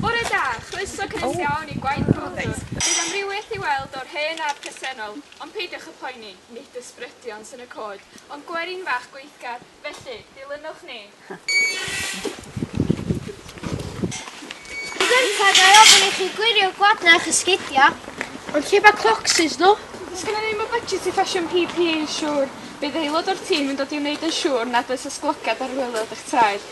Bore da, chroeso cynnes iawn i Gwaith Clodford. Bydd amrywiaeth i weld o'r hen a'r presennol, ond peidiwch â phoeni, nid ysbrydion sy'n y cod, ond gwerin fach gweithgar, felly, dilynwch ni. Gynta, ga i ofyn i chi gwirio gwadna a'ch esgidia? Ond lle mae clocsys nhw? Does gennym ni ddim y budget i ffasiwn PPE yn siŵr. Bydd aelod o'r tîm yn dod i wneud yn siŵr nad oes ysglogiad ar waelod eich traed.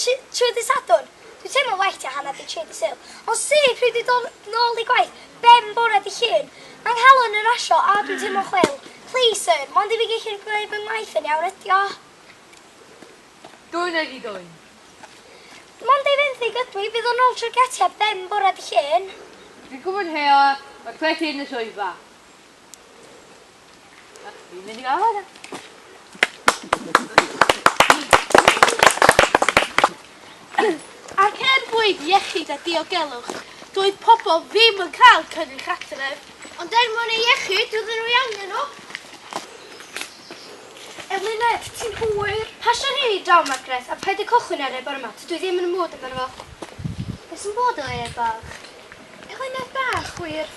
Trwy ddydd Sadwrn, dwi'n teimlo'n well tua hanner 'di tri 'di Sul. Ond syth pryd dwi'n dod nôl i gwaith, ben bore 'di Llun. Mae 'nghalon yn rasio a dwi'n teimlo'n chwil. Please sir, mond i fi gellu gwneud fy ngwaith yn iawn ydi o. Dwyn a di dwyn. Mond ei fenthyg ydw i, bydd o nôl trwy'r gatiau ben bore 'di Llun. Dwi'n gwybod heo, mae cwet hŷn yn y swyddfa. Fi'n mynd i gael hwnna. Ac er mwyn iechyd a diogelwch, doedd pobl ddim yn cael cynnwys adref. Ond er mwyn ei iechyd, doedden nhw i angen nhw. Eluned, ti'n hwyr. Pasio'n hyn i draw, Margaret, a paid â cychwyn ar e bore yma, tydw i ddim yn y mood amdano fo. Beth sy'n bod efo e, bach? Eluned bach, wir.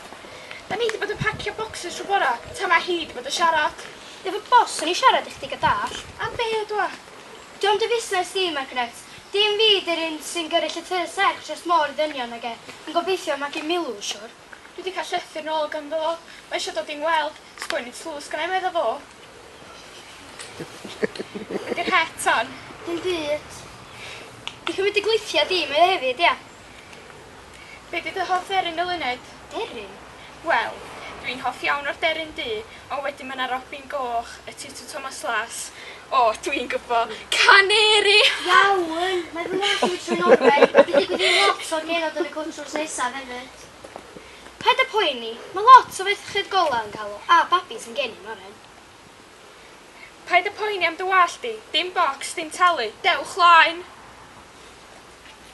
Da ni 'di bod yn pacio bocsys trw bora, tan ma hi 'di bod yn siarad. Dw i'n boss, o'n i'n siarad i chdi ga dallt. Am be ydw a? Dio'm dy fusnes di, Margaret. Dim fi 'di'r un sy'n gyrru llythyr serch dros môr i ddynion nag e. Yn gobeithio magu Milw, siwr. Dwi 'di cael llythyr nôl ganddo fo, mae eisiau dod i'n ngweld. Sgwennu tlws gennai medda fo. Be 'di'r het, ton? Dim byd. Di cymryd dy gluthia di, mae o hefyd, ia? Be di dy hoff dderyn eluned? Deryn? Wel, dwi'n hoff iawn o'r deryn du, ond wedyn ma' 'na robin goch, y tutw Thomas Las, o, dwi'n gwbo, caneri! Iawn, mae fy ngwallt i wedi troi oren, a dwi'n digwydd i lot o'r genod yn y cwt drws nesaf hefyd. Paid a poeni, ma' lot o ferched gola yn cael o, a babis yn geni'n oren. Paid a poeni am dy wallt di, dim bocs, dim talu, dewch 'laen!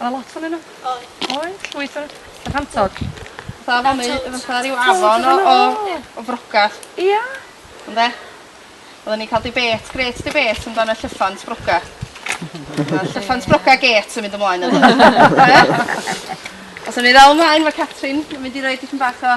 Oedd 'na lot onyn nhw? Oedd. Oedd llwyth o n'w. Cantod. Fatha afon neu fatha ryw afon o o o frocad. Ia? Ynde? Odden ni'n ca'l debate grêt debate amdan y llyffant broga. Ma'r llyffant broga gêt yn mynd ymlaen ynddo fe. Be? Os o'n ni ddal ymlaen ma' Catrin yn mynd i roi dipyn bach o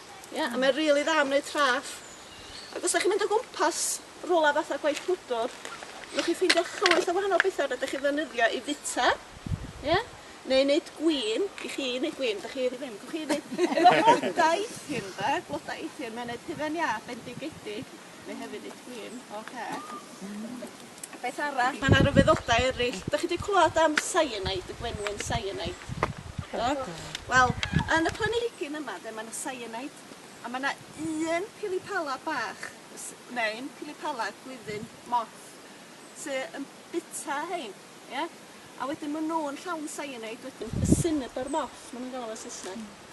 Ia a mae rili dda am wneud traff ac os dach chi'n mynd o gwmpas rwla fatha gwaith gwydwr newch chi ffeindio llwyth o wahanol betha rydych chi ddefnyddio i fita ia neu neud gwin i chi neud gwin dych chi ddim gwch chi neud efo blodau eithin de blodau eithin mae'n neud hufen iâ bendigedig. Mae hefyd i Queen. Oce. Beth arall? Mae 'na ryfeddodau eraill. Dach chi 'di clywed am cyanide, y gwenwyn cyanide? Do? Wel, yn y planhigyn yma de, mae 'na cyanide, a mae 'na un pilipala bach, s- neu'n pilipala gwyddyn moth, sy yn bita hein, ie? A wedyn maen nhw'n llawn cyanide wedyn, y cinnabar moth, maen nhw'n galw fo'n Saesneg.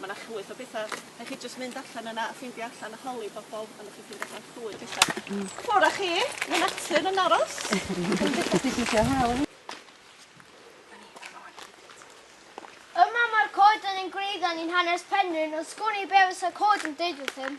Ma' 'na llwyth o betha. Rhai' chi jyst mynd allan yna a ffeindio allan a holi pobol a newch chi ffindio allan llwyth betha. Hmm. Ffwr â chi, ma' natur yn aros. Yma mae'r coeden yn gwreiddiau ni'n hanes Penrhyn ond sgwn i be' fysa coed yn deud wrthym.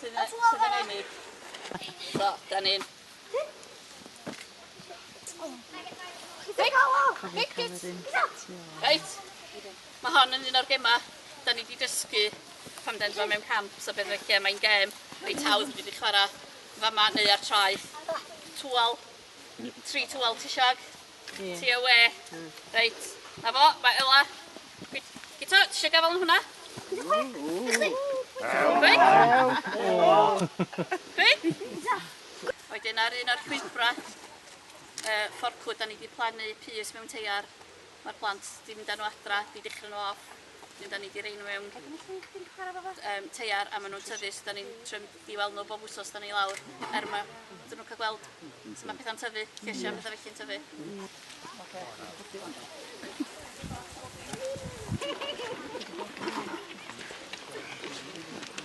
Sydd yn, sydd yn ennill. So, da ni'n... Reit, mae hon yn un o'r gemau da ni wedi dysgu pan den fo mewn camp, so beth fe lle mae'n gem reit hawdd wedi chwarae fama neu ar traeth. Twal, tri twal ti siag? Ie. Ti awe. Hmm. Reit. Na fo, mae Ela. Gyd- Gito, ti eisiau gafael yn hwnna? Chwi? Wedyn ar un o'r llwybrau uh, fforclwyd, da ni wedi plannu pys mewn teiar. Mae'r plant wedi mynd â nhw adra, wedi dechrau nhw off. Wedyn 'dan ni 'di rei n'w mewn yym teiar a ma' nw'n tyfu so 'dan ni'n trio mynd i weld n'w bob wsos 'dan ni lawr er ma' 'dyn nw'n ca'l gweld su' ma' petha'n tyfu llysia a petha felly'n tyfu. Oce.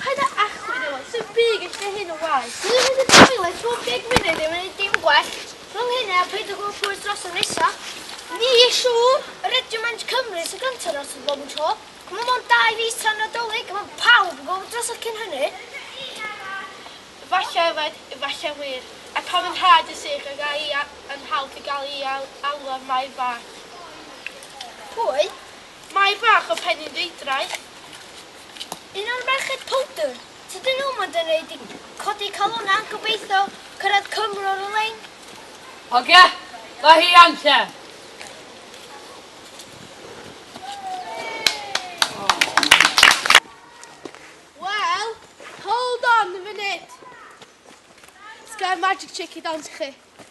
Paid a achwyd efo, sut bu gyda hyn o waith? Dwi wedi profi le pob deg munud ddim yn neud dim gwell. Rhwng hynny a peidio gweld pwyll dros y nesa. Ni siŵr! Yr ydi Men's Cymru sy'n gynta dros y bob tro. Mae mond dau fis tan Nadolig a mae pawb yn gweld drosodd cyn hynny. Efallai yfed, efallai wir. A pam yn nhad yn sych ag a'i yn nhad yn cael ei alw ar Mair Fach? Pwy? Mae bach o Penrhydeudraeth. Un o'r merched powdr. Tydyn nhw mond yn neud i codi calona a gobeithio cyrraedd Cymru ar y lein. Hogia! Mae hi iawn te! Wel, hold on a minute! Sgen magic chick i dawns i chi.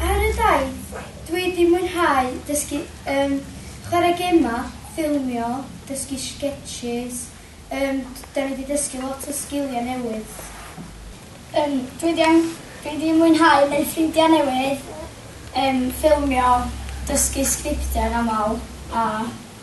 Ar y daith, dwi 'di mwynhau dysgu yym chwarae gemau, ffilmio, dysgu sgetsys, yym d- 'dan ni 'di dysgu lot o sgiliau newydd. Yym dwi 'di yym dwi 'di mwynhau neud ffrindia newydd, yym ffilmio, dysgu sgriptiau yn amal a